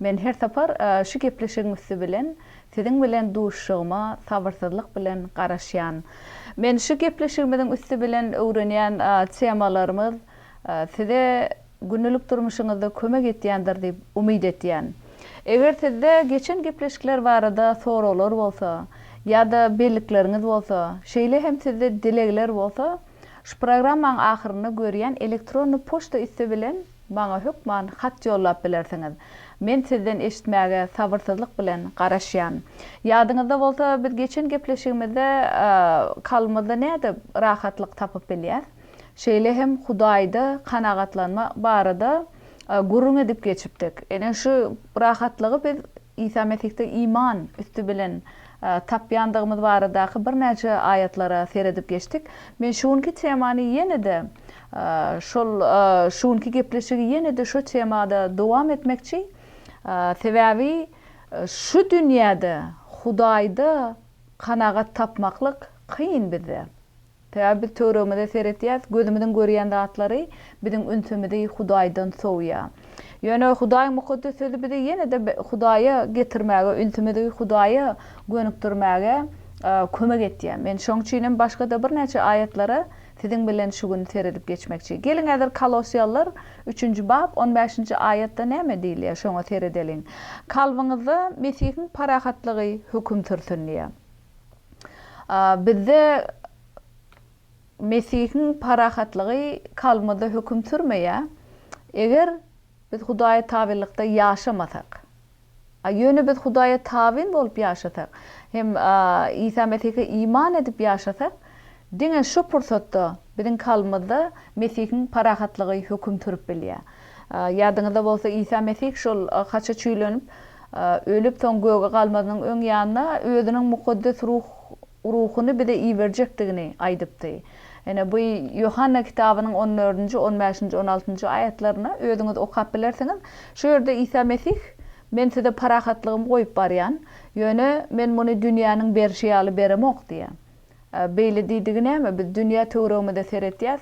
Men her sapar şu gepleşigiň üsti bilen siziň bilen duşuşygyma sabyrsyzlyk bilen garaşýan. Men şu gepleşigimiziň üsti bilen öwrenýän temalarymyz size gündelik durmuşyňyzda kömek etýändir diýip umyt etýän. Eger sizde geçen gepleşikler barada soraglar bolsa ýa-da bellikleriňiz bolsa, şeýle hem sizde dilegler bolsa, Şu programmaň ahyrynda görýän elektronny poçta üsti bilen maňa hökman hat ýollap bilersiňiz. Men sizden eşitmäge sabyrsyzlyk bilen garaşýan. Ýadyňyzda bolsa biz geçen gepleşigimizde kalbymyzda nädip rahatlyk tapyp bilýäs? Şeýle hem Hudaýda kanagatlanma barada gürrüň edip geçipdik. Ine şu rahatlygy biz Isa Mesihde iman üsti bilen tapýandygymyz baradaky birnäçe aýatlara seredip geçdik. Men şu günki temany ýene-de şol şu günki gepleşigi ýene-de şu temada dowam etmekçi. Sebäbi şu dünýäde Hudaýda kanagat tapmaklyk kyn bizde. Sebäbi biz töweregimize seretýäs, gözümiziň görýän zatlary biziň ünsümizi Hudaýdan sowýar. Ýöne Hudaýyň Mukaddes Sözi bizi ýene-de Hudaýa getirmäge, ünsümizi Hudaýa gönükdirmäge kömek etýär. Men şoň üçin hem başga-da birnäçe aýatlara siziň bilen şu gün seredip geçmekçi. Geliň häzir Kolossiýalylar üçünji bap on bäşinji aýatda näme diýilýär, şoňa seredeliň. Kalbyňyzda Mesihiň parahatlygy höküm sürsün diýýär. Bizde Mesihiň parahatlygy kalbymyzda höküm sürmeýär, eger biz Hudaýa tabynlykda ýaşamasak. Ýöne biz Hudaýa tabyn bolup ýaşasak hem Isa Mesihe iman edip ýaşasak, diňe şu pursatda biziň kalbymyzda Mesihiň parahatlygy höküm sürüp bilýär. Ýadyňyzda bolsa, Isa Mesih şol haça çüýlenip, ölüp, soň göge galmazynyň öň ýanynda Özüniň mukaddes ruh, Ruhuny bize iberjekdigini aýdypdy. Ine, bu Ýohanna kitabynyň on dördünji, on bäşinji, on altynjy aýatlaryny özüňiz okap bilersiňiz. Şu ýerde Isa Mesih, Men size parahatlygymy goýup barýan, ýöne Men muny dünýäniň berşi ýaly beremok diýýär. Beýle diýdigi näme? Biz dünýä töweregimize seretýäs,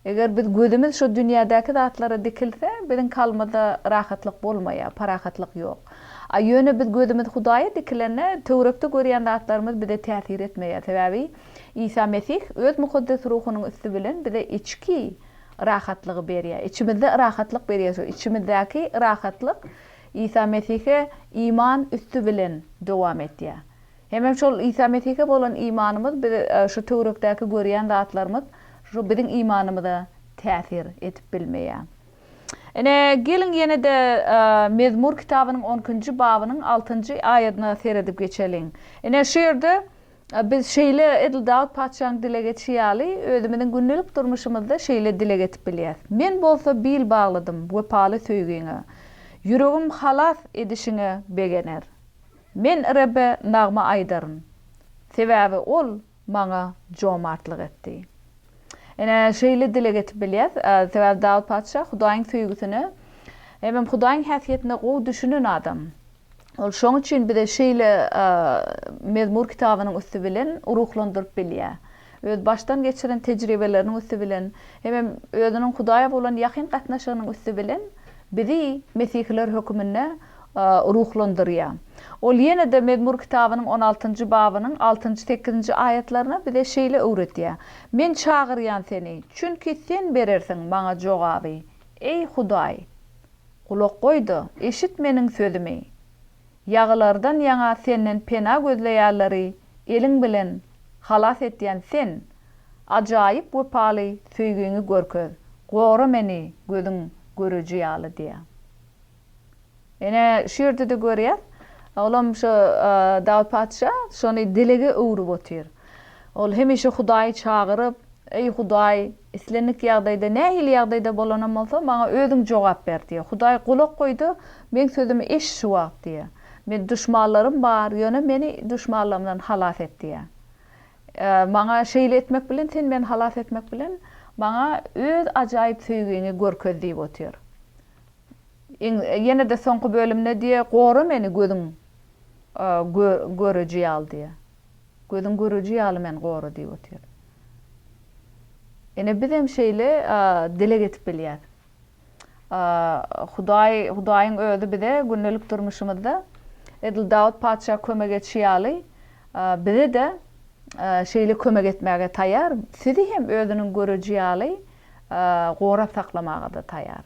Eger biz gözümiz şu dünýädäki zatlara dikilse, biziň kalbymyzda rahatlyk bolmaýar, parahatlyk ýok. A ýöne biz gözümiz Hudaýa dikilende, töwerekde görýän zatlarymyz bize täsir etmeýär. Sebäbi Isa Mesih öz mukaddes ruhunyň üsti bilen bize içki rahatlygy berýär. Içimizde rahatlyk berýär. Şu içimizdäki rahatlyk Isa Mesihe iman üsti bilen dowam etýär. Hemem şol Isa Mesihe bolan imanymyz biz şu töwrekdäki görýän zatlarymyz şu biziň imanymyza täsir edip bilmeýär. Ine, geliň ýene-de Mezmur kitabynyň on ikinji babynyň altynjy aýadyna seredip geçeliň. Ine, şu ýerde biz şeýle edil Dawut patyşanyň dileg etişi ýaly özümiziň gündelik durmuşymyzda şeýle dileg edip bilýäs, Men bolsa bil bagladym wepaly söýgiňe, ýüregim halas edişiňe begener. Men Rebbe nagma aýdaryn, sebäbi Ol maňa jomartlyk etdi. Ine, şeýle dileg edip bilýäs, sebäbi Dawut patyşa Hudaýyň söýgüsine hemem Hudaýyň häsiýetine gowy düşünen adam. Ol şonuň üçin bize şeýle mezmur kitabynyň üsti bilen ruhlandyryp bilýär. öz başdan geçiren tejribeleriniň üsti bilen hemem özüniň Hudaýa bolan ýakyn gatnaşygynyň üsti bilen bizi mesihiler höküminde ruhlandyrýar. Ol ýene-de Mezmur kitabynyň on altynjy babynyň altynjy, sekizinji aýatlaryna bize şeýle öwredýär, Men çagyrýan Seni, çünki Sen berersiň maňa jogaby. Eý, Hudaý, gulak goý-da, eşit meniň sözümi. Ýagylardan ýaňa Senden pena gözleýärleri eliň bilen halas etýän Sen, ajaýyp wepaly söýgiňi görkez, gora meni gözüň göreji ýaly diýýär. Ine, şu ýerde-de görýäs, olam şo Dawut patyşa şony dilege öwrüp otyr. Ol hemişe Hudaýy çagyryp, Eý, Hudaý, islendik ýagdaýda, nähili ýagdaýda bolanam bolsa, maňa Özüň jogap ber diýýär. Hudaý gulak goý-da, Meň sözümi eşit şu wagt diýýär. Meniň duşmanlarym bar, ýöne meni duşmanlarymdan halas et diýýär. Maňa şeýle etmek bilen, Sen meni halas etmek bilen, maňa Öz ajaýyp söýgiňi görkez diýip otyr. Ýene-de soňky bölümde diýýär, Gora meni gözüň göreji ýaly diýýär. Gözüň göreji ýaly men gora diýip otyr. Ine bizem şeýle dileg edip bilýäs. Hudaý, Hudaýyň özi bize gündelik durmuşymyzda edil Dawut patyşa kömek etşi ýaly bize-de şeýle kömek etmäge taýar, sizi hem özüniň göreji ýaly gorap saklamagada taýar.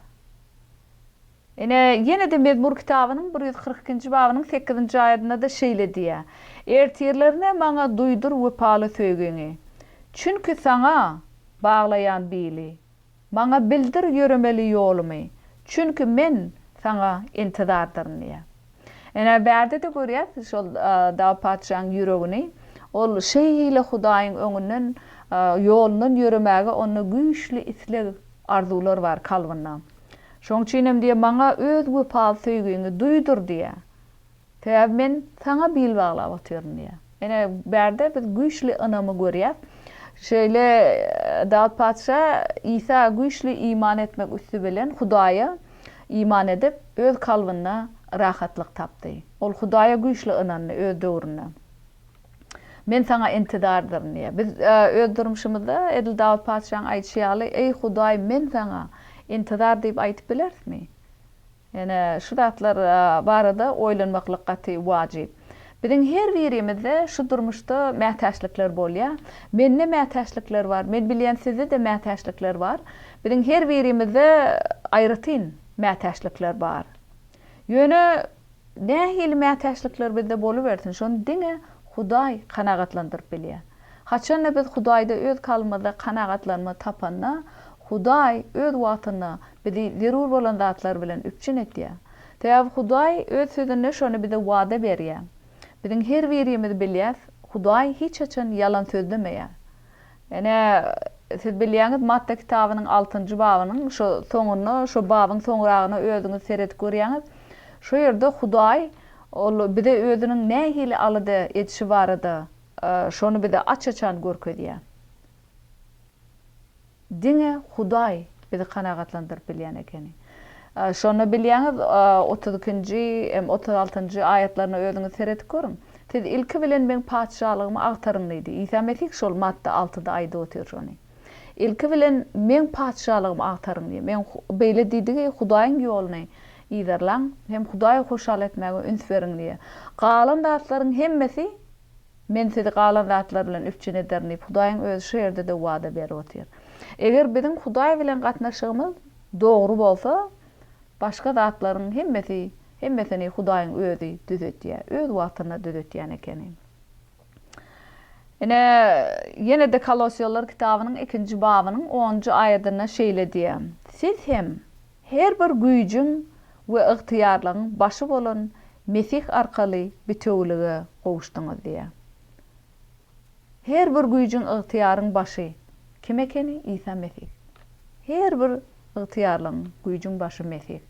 Ine, ýene-de Mezmur kitabynyň bir ýüz kyrk ikinji babynyň sekizinji aýadynda-da şeýle diýýär, Ertirlerine maňa duýdur wepaly söýgiňi, çünki Saňa baglaýan bili, maňa bildir ýöremeli ýolumy, çünki men Saňa intizardyryn diýýär. Ine, bärde-de görýäs şol Dawut patyşanyň ýüregini. Ol şeýle Hudaýyň öňünden, ýolundan ýöremäge onda güýçli isleg, arzuwlar bar kalbynda. Şonuň üçin hem diýýär, Maňa Öz wepaly söýgiňi duýdur diýýär. Sebäbi men Saňa bil baglap otyryn diýýär. Ine, bärde biz güýçli ynamy görýäs. Şeýle Dawut patyşa Isa güýçli iman etmek üsti bilen Hudaýa iman edip, öz kalbynda rahatlyk tapdy. Ol Hudaýa güýçli ynandy öz döwründe. Men Saňa intidardyryn diýýär. Biz öz durmuşymyzda edil Dawut patyşaň aýdyşy ýaly, Eý, Hudaý, men Saňa intidar diýip aýdyp bilerismi? Ine, şu zatlar barada oýlanmaklyk gaty wajyp. Biziň her birimizde şu durmuşda mätäçlikler bolýar. Mende mätäçlikler bar, men bilýän sizde-de mätäçlikler bar. Biziň her birimizde aýratyn mätäçlikler bar. Ýöne nähili mätäçlikler bizde bolubersin, şony diňe Hudaý kanagatlandyryp bilýär. Haçanda biz Hudaýda öz kalbymyzda kanagatlanma tapanda, Hudaý öz wagtynda bizi zerur bolan zatlar bilen üpjün etýär. Sebäbi Hudaý öz Sözünde şony bize wada berýär. Biziň her birimiz bilýäs, Hudaý hiç haçan ýalan sözlemeýär. Ine, siz bilýäňiz, Matta kitabynyň altynjy babynyň şo soňunda, şo babyň soňragyna özüňiz seredip görýäňiz. Şo ýerde Hudaý ol bize özüniň nähili alada edişi barada Şony bize aç-açan görkezýär. Diňe Hudaý bizi kanagatlandyryp bilýän ekeni. Şonda bilýäňiz, otuz ikinji hem otuz altynjy aýatlaryna özüňiz seredip görüň. Siz ilki bilen Meň Patyşalygymy agtaryň diýdi. Isa Mesih şol Matta altyda aýdyp otyr şony. Ilki bilen Meň patyşalygymy agtaryň diýdi. Meň beýle diýdigi, Hudaýyň ýoluny yzarlaň hem Hudaýy hoşal etmäge üns beriň diýdi. Galan zatlaryň hemmesi Men sizi galan zatlar bilen üpjün ederin diýip, Hudaýyň Özi şu ýerde-de wada berip otyr. Eger biziň Hudaý bilen gatnaşygymyz dogry bolsa, başga zatlaryň hemmesi hemmesini Hudaýyň Özi düzetýär. Öz wagtynda düzetýän ekeni. Ine, ýene-de Kolosýalylar kitabynyň ikinji babynyň onunjy aýadynda şeýle diýýär, Siz hem her bir güýjüň we ygtyýarlygyň başy bolan Mesih arkaly bitewülige gowuşdyňyz diýýär. Her bir güýjüň, ygtyýaryň başy kim ekeni? Isa Mesih. Her bir Ygtyýarlygyň, güýjüň başy Mesih.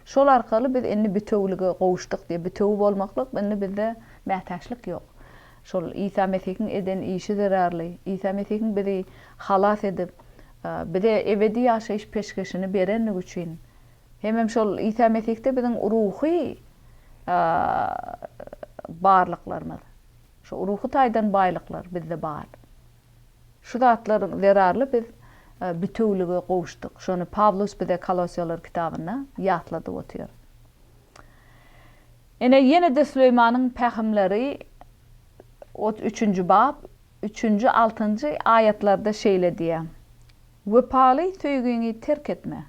Şol arkaly biz indi bitewülige gowuşdyk diýip, bitewi bolmaklyk indi bizde mätäçlik ýok. Şol Isa Mesihiň eden işi zerarly, Isa Mesihiň bizi halas edip, bize ebedi ýaşaýyş peşgeşini berendigi üçin, hemem şol Isa Mesihde biziň ruhy barlyklarymyz, şu ruhy taýdan baýlyklar bizde bar. Şu zatlar zerarly biz bitewülige gowuşdyk. Şony Pawlus bize Kolosýalar kitabynda ýatladyp otyr. Ine, ýene-de Süleýmanyň pähimleri otuz üçünji bap, üçünji, altynjy aýatlarda şeýle diýýär, Wepaly söýgiňi terk etme.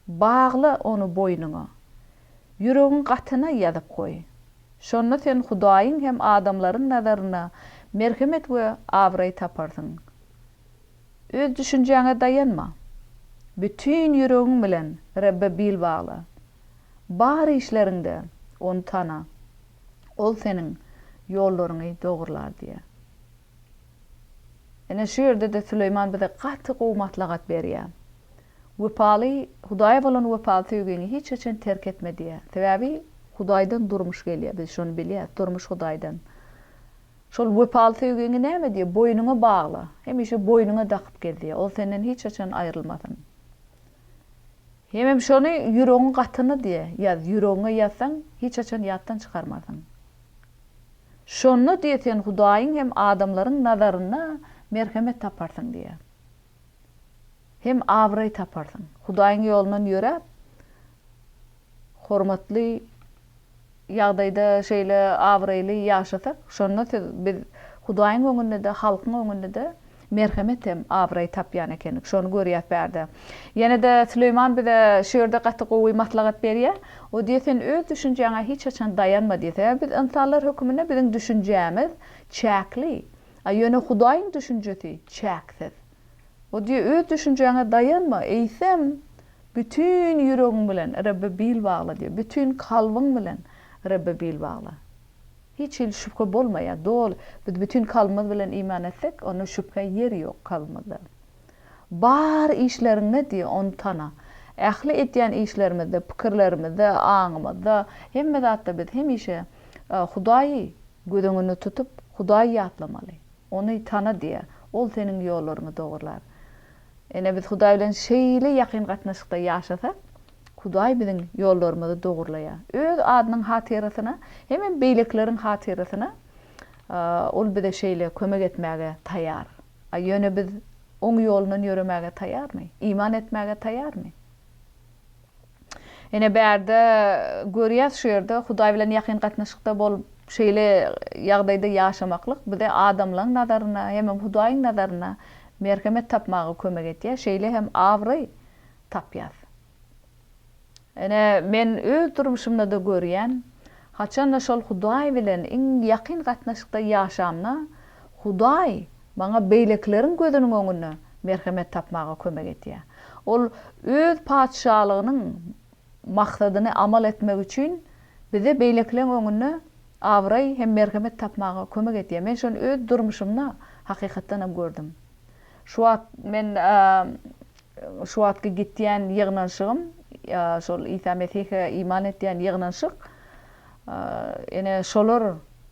Bagla ony boýnuňa. Ýüregiň gatyna ýazyp goý. Şonda sen Hudaýyň hem adamlaryň nazarynda merhemet we abraý taparsyň. Öz düşünjäňe daýanma. Bütin ýüregiň bilen Rebbe bil bagla. Bar işleriňde Ony tana. Ol seniň ýollaryňy dogrular diýýär. Ine, şu ýerde-de Süleýman bize gaty gowy maslahat berýär. Wepaly, Hudaýa bolan wepaly söýgiňi hiç haçan terk etme diýýär. Sebäbi Hudaýdan durmuş gelýär, biz şony bilýäris, durmuş Hudaýdan. Şol wepaly söýgiňi näme diýýär, boýnuňa bagla, hemişe boýnuňa dakyp gez diýýär, ol senden hiç haçan aýrylmasyn. Hemem şony ýüregiň gatyna diýýär, ýaz, ýüregiňe ýazsaň, hiç haçan ýatdan çykarmarsyň. Şonda diýe sen Hudaýyň hem adamlaryň nazarynda merhemet taparsyň diýe. Hem abraý taparsyň. Hudaýyň ýolundan ýöräp, hormatly ýagdaýda şeýle abraýly ýaşasak, şonda siz biz Hudaýyň öňünde-de, halkyň öňünde-de Merhemet hem abraý tapýan ekenik. Şony görýäs bärde. Ýene-de Süleýman bize şu ýerde gaty gowy maslahat berýä. O diýýä, sen öz düşünjäňe hiç haçan daýanma diýýä. Sebäbi biz ynsanlar höküminde biziň düşünjämiz çäkli. A ýöne Hudaýyň düşünjesi çäksiz. O diýýä, öz düşünjäňe daýanma, eýsem, bütin ýüregiň bilen Rebbe bil bagla diýýä. Bütin kalbyň bilen Rebbe bil bagla. Hiç hili şübhe bolmaýar. Doly. Biz bütin kalbymyz bilen iman etsek, onda şübhä ýer ýok kalbymyzda. Bar işleriňde diýýär, Ony tana. Ähli edýän işlerimizde, pikirlerimizde, aňymyzda, hemme zatda biz hemişe Hudaýy göz öňünde tutup, Hudaýy ýatlamaly. Ony tana diýýär. Ol seniň ýollaryňy dogrular. Ine, biz Hudaý bilen şeýle ýakyn gatnaşykda ýaşasak, Hudaý biziň ýollarymyzy dogurlaýar. Öz adynyň hatyrasyna hemem beýlekileriň hatyrasyna Ol bize şeýle kömek etmäge taýýar. A ýöne biz Oň ýolundan ýöremäge taýýarmy? Iman etmäge taýýarmy? Ine, bärde görýäs, şu ýerde Hudaý bilen ýakyn gatnaşykda bolup, şeýle ýagdaýda ýaşamaklyk bize adamlaň nazarynda hemem Hudaýyň nazarynda merhemet tapmaga kömek edýär, şeýle hem abraý tapýas. Ine, men öz durmuşymda-da görýän, haçan-da şol Hudaý bilen iň ýakyn gatnaşykda ýaşamda, Hudaý maňa beýlekileriň gözüniň öňünde merhemet tapmaga kömek edýär. Ol Öz Patyşalygynyň maksadyny amal etmek üçin bize beýlekileň öňünde abraý hem merhemet tapmaga kömek edýär. Men şony öz durmuşymda hakykatdanam gördüm. Şu wagt men Şu wagtky gitýän ýygnanşygym, ýa şol Isa Mesihe iman etýän ýygnanşyk, ene, şolar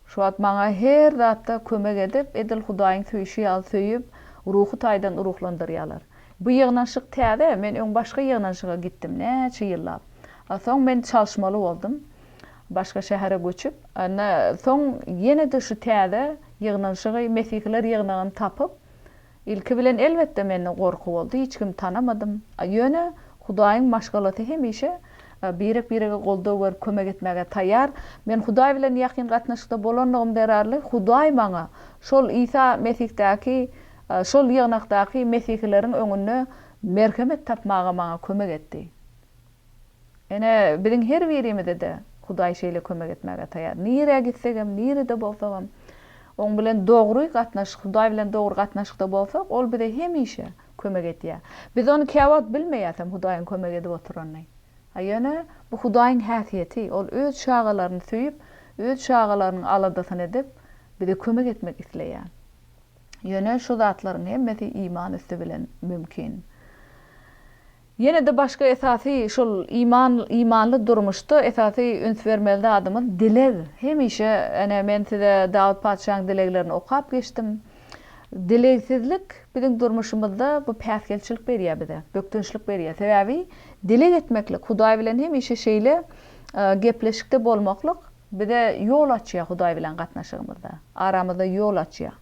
şu wagt maňa her zatda kömek edip, edil Hudaýyň söýşi ýaly söýüp, ruhy taýdan ruhlandyrýarlar. Bu ýygnanşyk täze, men öň başga ýygnanşyga gitdim, näçe ýyllap. A soň men çalyşmaly boldum, başga şähere göçüp. Ine, soň ýene-de şu täze ýygnanşygy, Mesihiler ýygnagyny tapyp, Ilki bilen elbetde mende gorky boldy, hiç kimi tanamadym. Ýöne Hudaýyň maşgalasy hemişe birek-birege goldaw berip kömek etmäge taýýar. Men Hudaý bilen ýakyn gatnaşykda bolanlygym zerarly Hudaý maňa şol Isa Mesihdaky şol ýygnakdaky mesihileriň öňünde merhemet tapmaga maňa kömek etdi. Ine, biziň her birimize-de Hudaý şeýle kömek etmäge taýýar. Nirä gitsegem, nirede bolsagam, Oň bilen dogry gatnaşyk, Hudaý bilen dogry gatnaşykda bolsak, Ol bize hemişe kömek edýär. Biz ony käwagt bilmeýäsem, Hudaýyň kömek edip oturanyny. A ýöne, bu Hudaýyň häsiýeti, Ol Öz çagalaryny söýüp, Öz çagalarynyň aladasyny edip, bize kömek etmek isleýär. Ýöne, şu zatlaryň hemmesi iman üsti bilen mümkin. Ýene-de başga esasy şol iman, imanly durmuşda esasy üns bermeli zadymyz dileg. Hemişe ene men size Dawut patyşaň dileglerini okap geçdim. Dilegsizlik biziň durmuşymyzda bu päsgelçilik berýär bize, bökdençlik berýär. Sebäbi dileg etmeklik, Hudaý bilen hemişe şeýle gepleşikde bolmaklyk bize ýol açýar Hudaý bilen gatnaşygymyzda, aramyzda ýol açýar.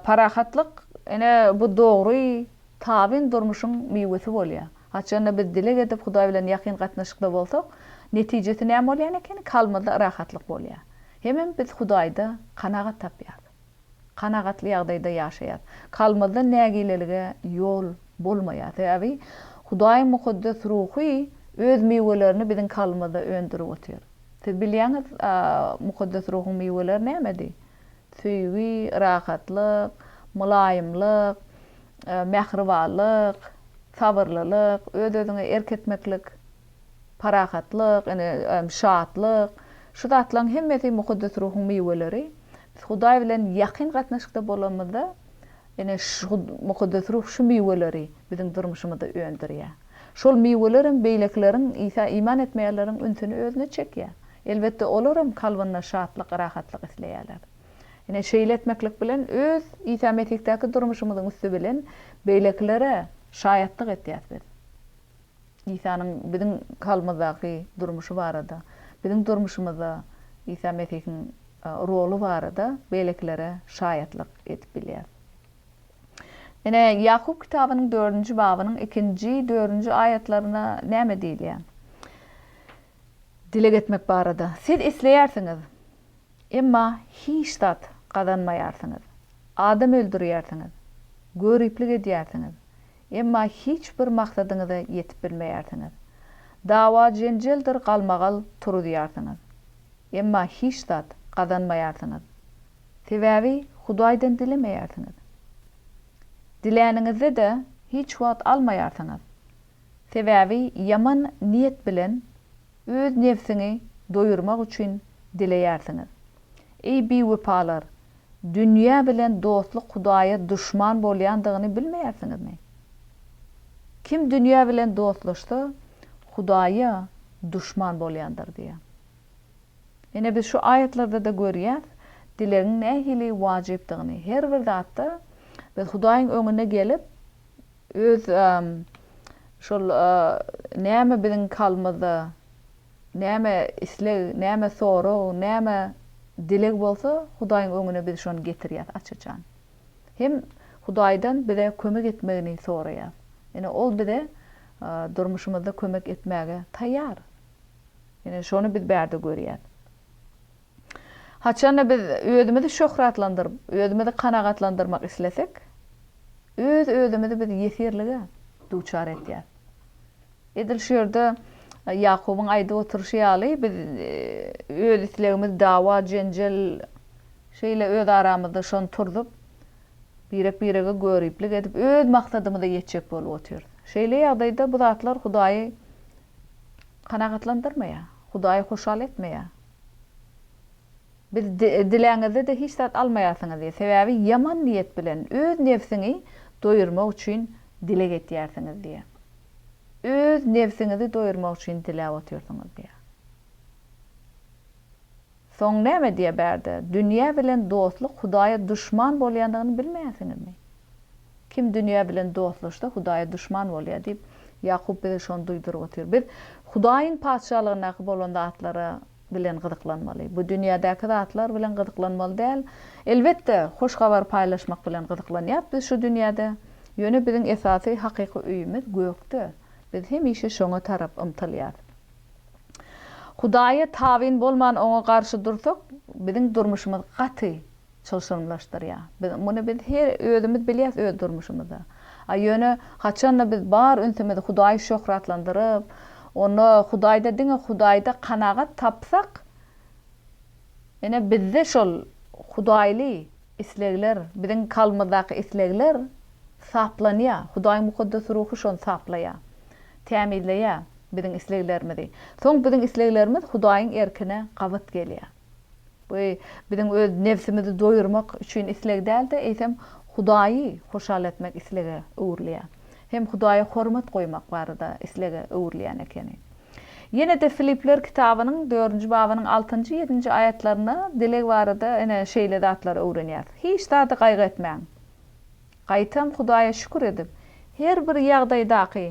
Parahatlyk ene bu dogry. Tabyn durmuşyň miwesi bolýar. Haçanda biz dileg edip Hudaý bilen ýakyn gatnaşykda bolsak, netijesi näme bolýan ekeni? Kalbymyzda rahatlyk bolýar. Hemem biz Hudaýda kanagat tapýarys. Kanagatly ýagdaýda ýaşaýarys. Kalbymyzda nägilelige ýol bolmaýar. Sebäbi Hudaýyň mukaddes ruhy öz miwelerini biziň kalbymyzda öndürip otyr. Siz bilýäňiz, mukaddes ruhuň miweleri nämedi? Söýgi, rahatlyk, mylaýymlyk, mähribanlyk, sabyrlylyk, öz-özüňe erk etmeklik, parahatlyk, ine, şatlyk, şu zatlaryň hemmesi mukaddes ruhuň miweleri. Biz Hudaý bilen ýakyn gatnaşykda bolanymyzda, ine, şu mukaddes ruh şu miweleri biziň durmuşymyzda öndürýär. Şol miwelerem beýlekileriň, Isa iman etmeýänleriň ünsüni özüne çekýär. Elbetde, olaram kalbynda şatlyk, rahatlyk isleýärler. Ine, şeýle etmeklik bilen öz Isa Mesihdäki durmuşymyzyň üsti bilen beýlekilere şaýatlyk edýäris biz. Isanyň biziň kalbymyzdaky durmuşy barada, biziň durmuşymyzda Isa Mesihiň roly barada beýlekilere şaýatlyk edip bilýäris. Ine, Ýakup kitabynyň dördünji babynyň ikinji, dördünji aýatlaryna näme diýilýär? Dileg etmek barada siz isleýärsiňiz, emma hiç zat gazanmaýarsyňyz. Adam öldürýärsiňiz, göriplik edýärsiňiz, emma hiç bir maksadyňyza ýetip bilmeýärsiňiz. Dawa-jenjeldir galmagal turuzýarsyňyz, emma hiç zat gazanmaýarsyňyz. Sebäbi Hudaýdan dilemeýärsiňiz. Diläniňizde-de hiç wagt almaýarsyňyz. Sebäbi ýaman niýet bilen öz nebsiňi doýurmak üçin dileýärsiňiz. Eý biwepalar, dünýä bilen dostluk Hudaýa duşman bolýandygyny bilmeýärsiňizmi? Kim dünýä bilen dostlaşsa, Hudaýa duşman bolýandyr diýýär. Ine biz şu aýatlarda-da görýäs, dilegiň nähili wajypdygyny. Her bir zatda biz Hudaýyň öňüne gelip, Öz şol näme biziň kalbymyzda näme isleg, näme sorag, näme dileg bolsa Hudaýyň öňüne biz şony getirýäs aç-açan. Hem Hudaýdan bize kömek etmegini soraýas. Ýöne ol bize durmuşymyzda kömek etmäge taýýar. Ýöne şony biz bärde görýäs. Haçan-da biz özümizi şöhratlandyryp, özümizi kanagatlandyrmak islesek, öz-özümizi biz ýesirlige duçar etýäs. Edil şu ýerde Ýakubyň aýdyp oturyşy ýaly, biz öz islegimiz, dawa, jenjel, şeýle öz aramyzda şony turzup, birek-birege göriplik edip, öz maksadymyza ýetjek bolup otyrys. Şeýle ýagdaýda bu zatlar Hudaýy kanagatlandyrmaýar, Hudaýy hoşal etmeýär. Biz diläňizde-de hiç zat almaýarsyňyz diýýär. Sebäbi ýaman niýet bilen, öz nebsiňi doýurmak üçin dileg etýärsiňiz diýýär. Öz nebsiňizi doýurmak üçin diläp otyrsyňyz diýýär. Soň näme diýýä bärde? Dünýä bilen dostluk Hudaýa duşman bolýandygyny bilmeýänsiňizmi? Kim dünýä bilen dostlaşsa, Hudaýa duşman bolýar diýip, Ýakup bize şony duýduryp otyr. Biz Hudaýyň Patyşalygyndaky bolan zatlara bilen gyzyklanmaly. Bu dünýädäki zatlar bilen gyzyklanmaly däl. Elbetde, hoş habary paýlaşmak bilen gyzyklanýas biz şu dünýäde. Ýöne biziň esasy hakyky öýümiz gökde. Biz hemişe şoňa tarap ymtylýas. Hudaýa tabyn bolman oňa garşy dursak, biziň durmuşymyz gaty çylşyrymlaşdyrýar. Biz muny biz her özümiz bilýäs öz durmuşymyzda. A ýöne haçanda biz bar ünsümizi Hudaýy şöhratlandyryp, onda Hudaýda diňe Hudaýda kanagat tapsak, ine bizde şol Hudaýly Islegler, biziň kalbymyzdaky islegler saplanýar. Hudaýyň mukaddes ruhy şony saplaýar, tämizleýär biziň isleglerimizi. Soň biziň isleglerimiz Hudaýyň erkine gabat gelýär. Bu biziň öz nebsimizi doýurmak üçin isleg däl-de, eýsem, Hudaýy hoşal etmek islege öwrülýär. Hem Hudaýa hormat goýmak barada islege öwrülýän ekeni. Ýene-de Filipler kitabynyň dördünji babynyň altynjy, ýedinji aýatlarynda dileg barada ine, şeýle zatlary öwrenýäris, Hiç zady gaýgy etmäň. Gaýtam Hudaýa şükür edip, her bir ýagdaýdaky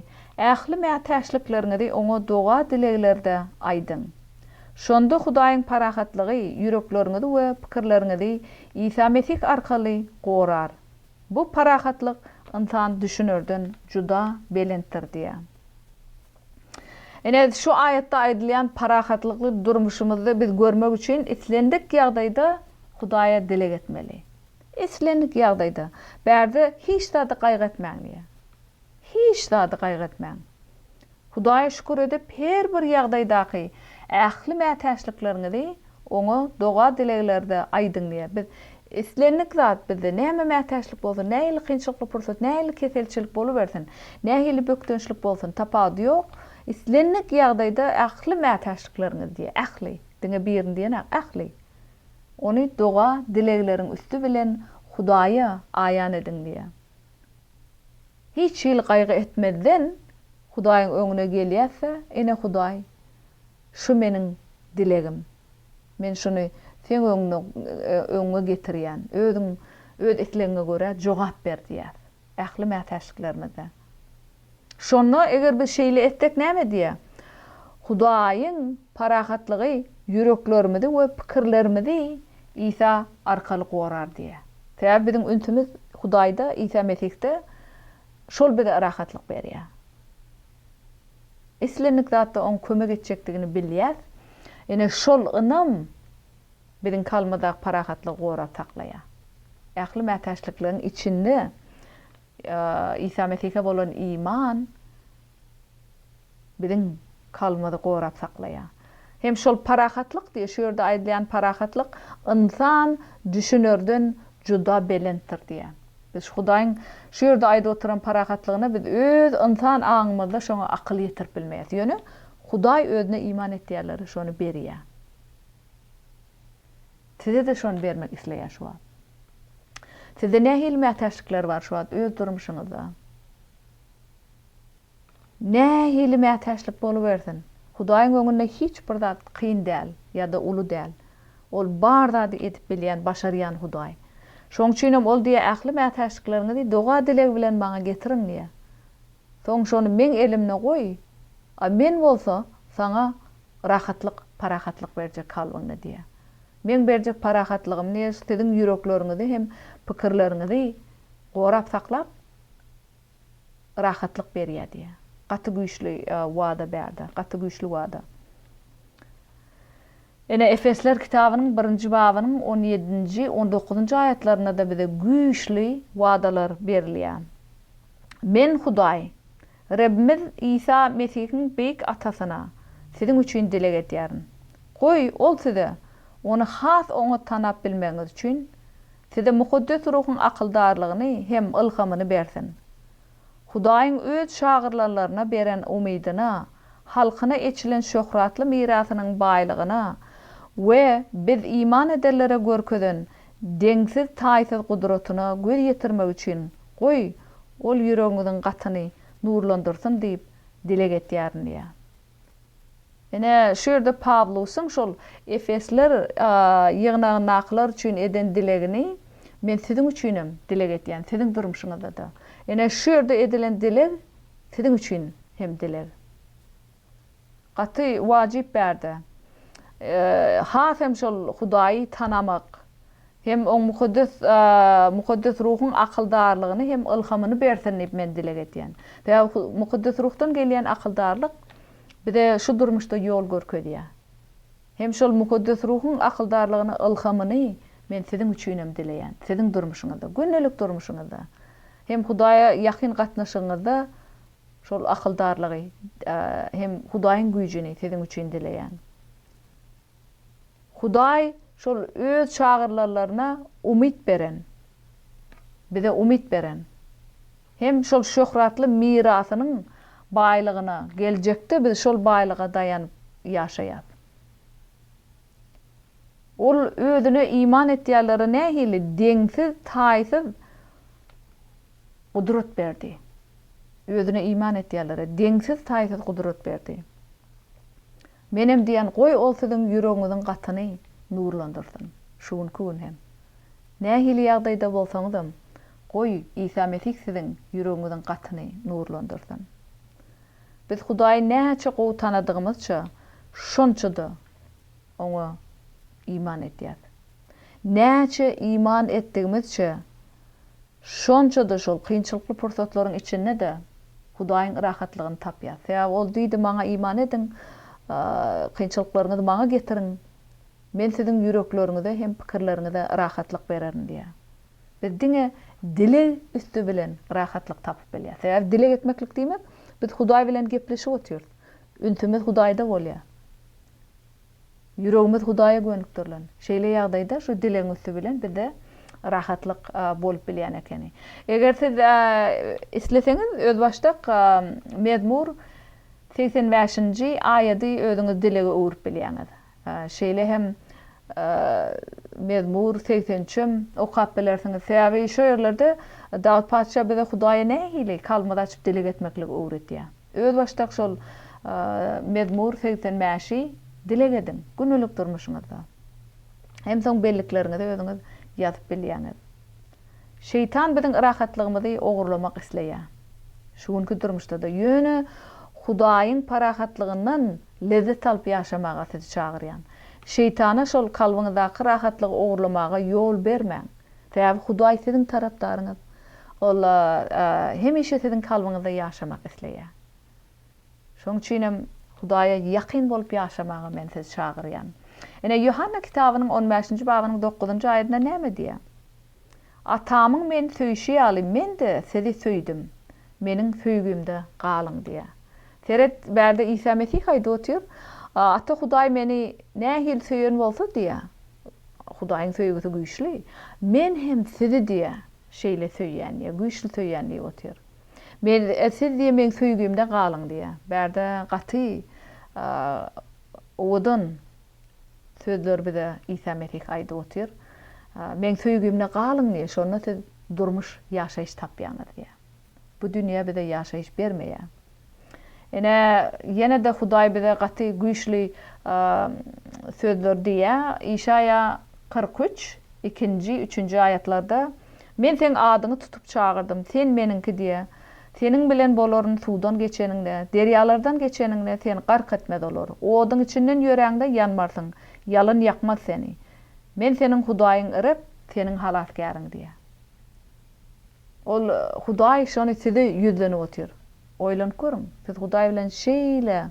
ähli mätäçlikleriňizi Oňa doga-dileglerde aýdyň. Şonda Hudaýyň parahatlygy ýürekleriňizi we pikirleriňizi Isa Mesih arkaly gorar. Bu parahatlyk ynsan düşünerden juda belentdir diýýär. Ine, şu aýatda aýdylýan parahatlykly durmuşymyzda biz görmek üçin islendik ýagdaýda Hudaýa dileg etmeli. Islendik ýagdaýda. Bärde hiç zady gaýgy etmäň diýýär. Hiç zady gaýgy etmäň. Hudaýa şükür edip, her bir ýagdaýdaky ähli mätäçlikleriňizi Oňa doga-dileglerde aýdyň diýýär. Biz islendik zat bizde näme mätäçlik bolsa, nähili kynçylykly pursat, nähili keselçilik bolubersin, nähili bökdençlik bolsun, tapawudy ýok, islendik ýagdaýda ähli mätäçlikleriňiz diýýär, ähli, diňe birini diýenak, ähli. Ony doga-dilegleriň üsti bilen Hudaýa aýan ediň diýýär. Hiç hili gaýgy etmezden Hudaýyň öňüne gelýäs-de, Ene Hudaý, Şu meniň dilegim. Men şuny seň öňüňde, öňüňe getirýän. Özüň öz islegiňe görä jogap ber diýýär. Ähli mätäçliklerimizde. Şonda eger biz şeýle etsek näme edýär? Hudaýyň parahatlygy ýüreklerimizi we pikirlerimizi Isa arkaly gorar diýýär. Sebäbi biziň ünsümiz Hudaýda, Isa Mesihde, şol bize rahatlyk berýär. Islendik zatda oň kömek etjekdigini bilýäs. Ýöne şol ynam biziň kalbymyzdaky parahatlygy gorap saklaýar. Ähli mätäçlikligiň içinde Isa Mesihe bolan iman biziň kalbymyzy gorap saklaýar. Hem şol parahatlyk diýýär. Şu ýerde aýdylýan parahatlyk ynsan düşünerden juda belentdir diýýär. Biz Hudaýyň şu ýerde aýdyp oturan parahatlygyna biz öz ynsan aňymyzda şoňa akyl ýetirip bilmeýäs. Ýöne Hudaý özüne iman etýänlere şony berýär. Size-de şony bermek isleýär şu wagt. Sizde nähili mätäçlikler bar şu wagt öz durmuşyňyzda? Nähili mätäçlik bolubersin, Hudaýyň öňünde hiç bir zat kyn däl ýa-da uly däl. Ol bar zady edip bilýän, başarýan Hudaý. Şoň üçinem Ol diýýär, Ähli mätäçlikleriňizi doga-dileg bilen Maňa getiriň diýýär. Soň şony Meň elimde goý, a Men bolsa saňa rahatlyk, parahatlyk berjek kalbyňda diýýär. Meň berjek parahatlygym diýýär, siziň ýürekleriňizi hem pikirleriňizi gorap saklap, rahatlyk berýär diýýär. Gaty güýçli wada bärde, gaty güýçli wada. Ine, Efesler kitabynyň birinji babynyň on ýedinji, on dokuzynjy aýatlarynda-da bize güýçli wadalar berilýär. Men Hudaý, Rebbimiz Isa Mesihiň beýik Atasyna siziň üçin dileg edýärin. Goý, Ol size Ony has oňat tanap bilmegiňiz üçin Size Mukaddes Ruhuň akyldarlygyny hem ylhamyny bersin. Hudaýyň Öz şagyrlanlaryna beren umydyna, halkyna eçilen şöhratly mirasynyň baýlygyna we biz iman edenlere görkezen deňsiz-taýsyz gudratyna göz ýetirmek üçin, goý, Ol ýüregiňiziň gatyny nurlandyrsyn diýip dileg etýärin diýýär. Ine, şu ýerde Pawlusyň şol efesler ýygnagyndakylar üçin eden dilegini men siziň üçinem dileg edýän, siziň durmuşyňyzda-da. Ine, şu ýerde edilen dileg siziň üçin hem dileg. Gaty wajyp bärde. Has hem şol Hudaýy tanamak, Hem oň mukaddes Mukaddes Ruhuň akyldarlygyny hem ylhamyny bersin diýip men dileg edýän. Sebäbi Mukaddes Ruhdan gelýän akyldarlyk bize şu durmuşda ýol görkezýär. Hem şol Mukaddes Ruhuň akyldarlygyny ylhamyny men siziň üçinem dileýän. Siziň durmuşyňyzda, gündelik durmuşyňyzda hem Hudaýa ýakyn gatnaşygyňyzda şol akyldarlygy hem Hudaýyň güýjüni siziň üçin dileýän. Hudaý şol Öz şagyrlarlaryna umyt beren, bize umyt beren, hem şol şöhratly mirasynyň baýlygyna geljekde biz şol baýlyga daýanyp ýaşaýas. Ol Özüne iman etýänlere nähili deňsiz, taýsyz gudrat berdi! Özüne iman etýänlere deňsiz, taýsyz gudrat berdi. Menem diýen goý ol siziň ýüregiňiziň gatyny nurlandyrsyn. Şu günki gün hem. Nähili ýagdaýda bolsaňyzam, goý Isa Mesih siziň ýüregiňiziň gatyny nurlandyrsyn. Biz Hudaýy näçe gowy tanadygymyzça şonça-da Oňa iman edýäs. Näçe iman etdigimizçe Şonça-da şol kynçylykly pursatlaryň içinde-de Hudaýyň rahatlygyny tapýas. Sebäbi Ol diýdi, Maňa iman ediň, kynçylyklaryňyzy Maňa getiriň, Men siziň ýürekleriňize hem pikirleriňize rahatlyk bererin diýýär. Biz diňe dileg üsti bilen rahatlyk tapyp bilýäs. Sebäbi dileg etmeklik diýmek, biz Hudaý bilen gepleşip otyrys. Ünsümiz Hudaýda bolýar. Ýüregimiz Hudaýa gönükdirilen. Şeýle ýagdaýda şu dilegiň üsti bilen bizde rahatlyk bolup bilýän ekeni. Eger siz isleseňiz, özbaşdak Mezmur segsen bäşinji aýady özüňiz dilege öwrüp bilýäňiz. Şeýle hem Mezmur segsen üçem okap bilersiňiz. Sebäbi şu ýerlerde Dawut patyşa bize Hudaýa nähili kalbymyzy açyp dileg etmekligi öwredýär. Özbaşdak şol Mezmur segsen bäşi dileg ediň, gündelik durmuşyňyzda. Hem soň bellikleriňizi özüňiz ýazyp bilýäňiz. Şeýtan biziň rahatlygymyzy ogurlamak isleýär. Şu günki durmuşda-da. Ýöne Hudaýyň parahatlygyndan lezzet alyp ýaşamaga sizi çagyrýan. Şeýtana şol kalbyňyzdaky rahatlygy ogurlamaga ýol bermäň. Sebäbi Hudaý siziň tarapdaryňyz. Ol hemişe siziň kalbyňyzda ýaşamak isleýär. Şonuň üçin hem Hudaýa ýakyn bolup ýaşamaga men sizi çagyrýan. Ine, Ýohanna kitabynyň on bäşinji babynyň dokuzynjy aýadynda näme diýýär? Atamyň meni söýşi ýaly, men-de sizi söýdüm, meniň söýgimde galyň diýýär. Seret, bärde Isa Mesih aýdyp otyr, Ata Hudaý meni nähili söýen bolsa diýýär, Hudaýyň söýgüsi güýçli. Men hem sizi diýe, şeýle söýýän diýe, güýçli söýýän diýip otyr. Men, siz diýe meň söýgimde galyň diýe. Bärde gaty owadan sözler bize Isa Mesih aýdyp otyr. Meň söýgimde galyň diýe, şonda siz durmuş, ýaşaýyş tapýaňyz diýe. Bu dünýe bize ýaşaýyş bermeýär. Ine, ýene-de Hudaý bize gaty güýçli sözler diýýär. Işaýa kyrk üç, ikinji, üçünji aýatlarda, Men seň adyňy tutup çagyrdym, sen Meniňki diýe. Seniň bilen bolaryn suwdan geçeniňde, derýalardan geçeniňde, seni gark etmez olar. Oduň içinden ýöräňde, ýanmarsyň, ýalyn ýakmaz seni. Men seniň Hudaýyň Reb, seniň halasgäriň diýýär. Ol, Hudaý şony size ýüzlenip otyr. Oýlanyp görüň, siz Hudaý bilen şeýle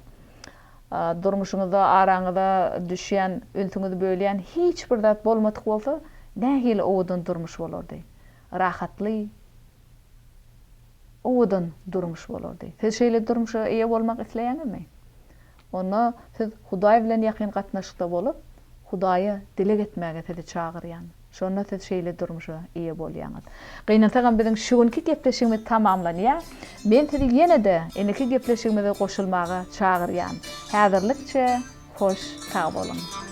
durmuşyňyzda araňyza düşýän, ünsüňizi bölýän hiç bir zat bolmadyk bolsa, nähili owadan durmuş bolardy? Rahatly, owadan durmuş bolardy. Siz şeýle durmuşa eýe bolmak isleýäňizmi? Onda siz Hudaý bilen ýakyn gatnaşykda bolup, Hudaýa dileg etmäge sizi çagyrýan. Şonda siz şeýle durmuşa eýe bolýaňyz. Gynansagam biziň şu günki gepleşigimiz tamamlanýar. Men sizi ýene-de indiki gepleşigimize goşulmaga çagyrýan. Häzirlikçe hoş sag boluň.